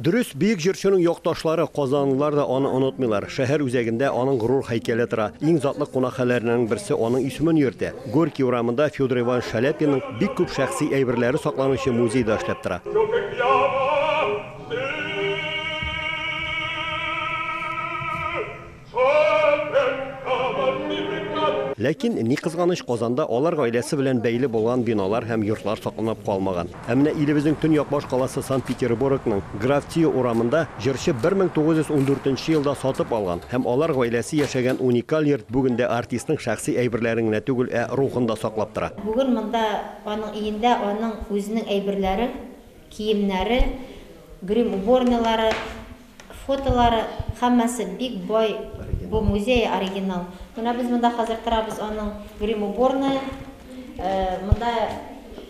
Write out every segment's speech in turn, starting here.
Дөрес, бөек җырчының якташлары, казанлылар да аны онытмыйлар. Шәһәр үзәгендә аның горур һәйкәле тора. Иң затлы кунакханәләрнең берсе аның исемен йөртә. Горький урамында Федор Иванович Шаляпинның бик күп шәхси әйберләре сакланучы музей да эшләп тора. Ләкин, ни кызганыч, Казанда алар гаиләсе белән бәйле булган биналар һәм йортлар сакланып калмаган. Ә менә илебезнең төньяк башкаласы Санкт-Петербургның Граф Тио урамында җырчы 1914 нче елда сатып алган һәм алар гаиләсе яшәгән уникаль йорт бүген дә артистның шәхси әйберләрен генә түгел, ә рухын да саклап тора. Бүген монда аның өендә аның үзенең әйберләре, киемнәре, грим уборныйлары, Фотолары һәммәсе бик бай бу музей оригинал. Менә без монда хәзер торабыз аның грим уборная. Монда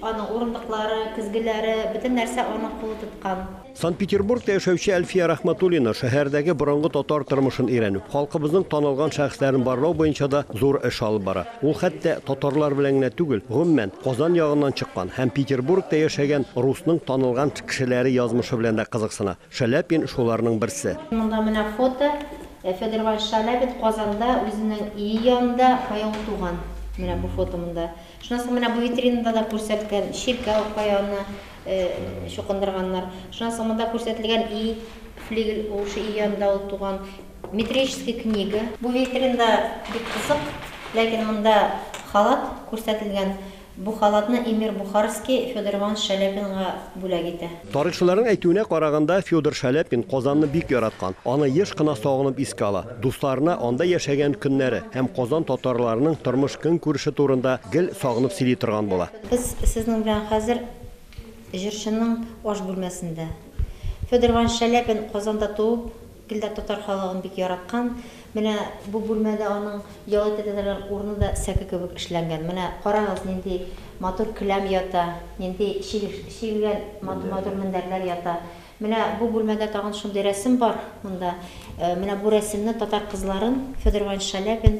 аның урындыклары, көзгеләре, бөтен нәрсә аның кулы тоткан. Санкт-Петербургта яшәүче Әлфия Рәхмәтуллина шәһәрдәге борынгы татар тормышын өйрәнү, халкыбызның танылган шәхесләрен барлау буенча да зур эш алып бара. Ул хәтта татарлар белән генә түгел, гомумән, Казан ягыннан чыккан һәм Петербургта яшәгән русның танылган кешеләре язмышы белән дә кызыксына. Шаляпин шуларның берсе. Монда менә фото. Федор Иванович Шаляпин Казанда үзенең ие янында каян туган. Менә бу фото монда. Шуннан соң менә бу витринада да күрсәткән чиркәү, каяны чукындырганнар. Шуннан соң монда күрсәтелгән ие, флигель ул шул ие янында ул туган. Метрическая книга. Бу витринада бик кызык, ләкин монда халат күрсәтелгән. Бу халатны эмир Бухарский Федор Иванович Шаляпинга бүләк итә. Тарихчыларның әйтүенә караганда, Федор Шаляпин Казанны бик яраткан, аны еш кына сагынып искә ала, дусларына анда яшәгән көннәре һәм Казан татарларының тормыш-көнкүреше турында гел сагынып сөйли торган була. Без сезнең белән хәзер җырчының аш бүлмәсендә. Федор Иванович Шаляпин Казанда туып, Гел дә татар халыгын бик яраткан. Менә бу бүлмәдә аның ял итә торган урыны да сәке кебек эшләнгән. Менә карагыз, нинди матур келәм ята, нинди чигелгән матур-матур мендәрләр ята. Менә бу бүлмәдә тагын шундый рәсем бар монда. Менә бу рәсемне татар кызларын Федор Иванович Шалябин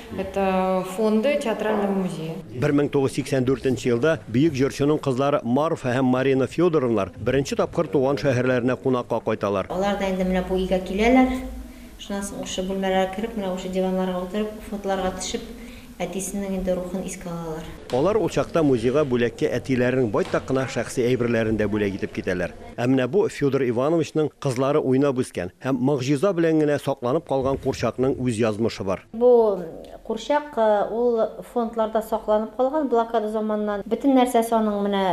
Это фонды театрального музея. 1984 нче елда бөек җырчының кызлары Марфа һәм Марина Федоровнар беренче тапкыр туган шәһәрләренә кунакка кайталар. Алар да инде менә бу өйгә киләләр. Шуннан соң ушы бүлмәләргә кереп, менә ушы диваннарга утырып, фотларга төшеп, әтисенең инде рухын искә алалар. Алар ул чакта музейга бүләккә әтиләренең байтак кына шәхси әйберләрен дә бүләк итеп китәләр. Ә менә бу Федор Ивановичның кызлары уйнап үскән һәм могҗиза белән генә сакланып калган курчакның үз язмышы бар. Бу курчак, ул фондларда сакланып калган, блокада заманыннан. Бөтен нәрсәсе аның менә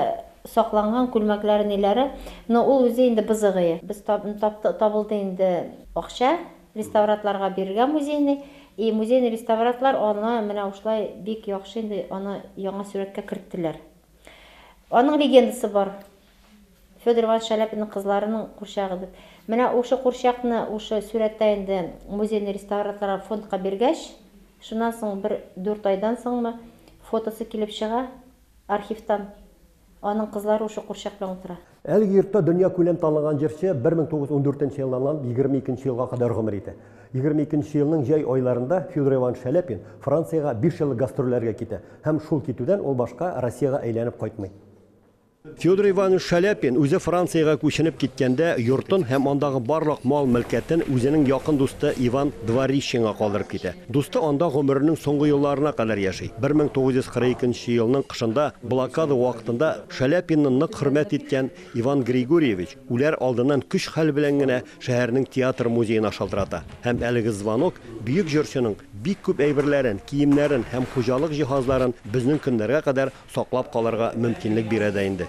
сакланган, күлмәкләре, ниләре. Но ул үзе инде бызыгые. Без тап-тап табылды инде акча, реставратларга бирергә музейный. И музейный реставратлар аны менә ушлай бик яхшы инде аны яңа сурәткә керттеләр. Аның легендасы бар. Федор Иванович Шаляпинның кызларының курчагы дип. Менә ушы курчакны ушы сурәттә инде музейны реставраторларга фондка биргәч, шуннан соң бер дүрт айдан соңмы фотосы килеп чыга архивтан, аның кызлары ушы курчак белән утыра. Әлеге йортта дөньякүләм танылган җырчы 1914 нче елларнан 22 нче елга кадәр гомер итә. 22 нче елның җәй айларында Федор Иванович Шаляпин Франциягә биш еллык гастрольләргә китә һәм шул китүдән ул башка Россиягә әйләнеп кайтмый. Федор Иванович Шаляпин үзе Франциягә күченеп киткәндә, йортын һәм андагы барлык мал-мөлкәтен үзенең якын дусты Иван Дворищенга калдырып китә. Дусты анда гомеренең соңгы елларына кадәр яши. 1942 нче елның кышында, блокада вакытында Шаляпинны нык хөрмәт иткән Иван Григорьевич, үләр алдыннан көч-хәл белән генә шәһәрнең театр-музеена шалтырата һәм әлеге звонок бөек җырчының Бик күп әйберләрен, киемнәрен һәм хуҗалык җиһазларын безнең көннәргә кадәр саклап калырга мөмкинлек бирә дә инде.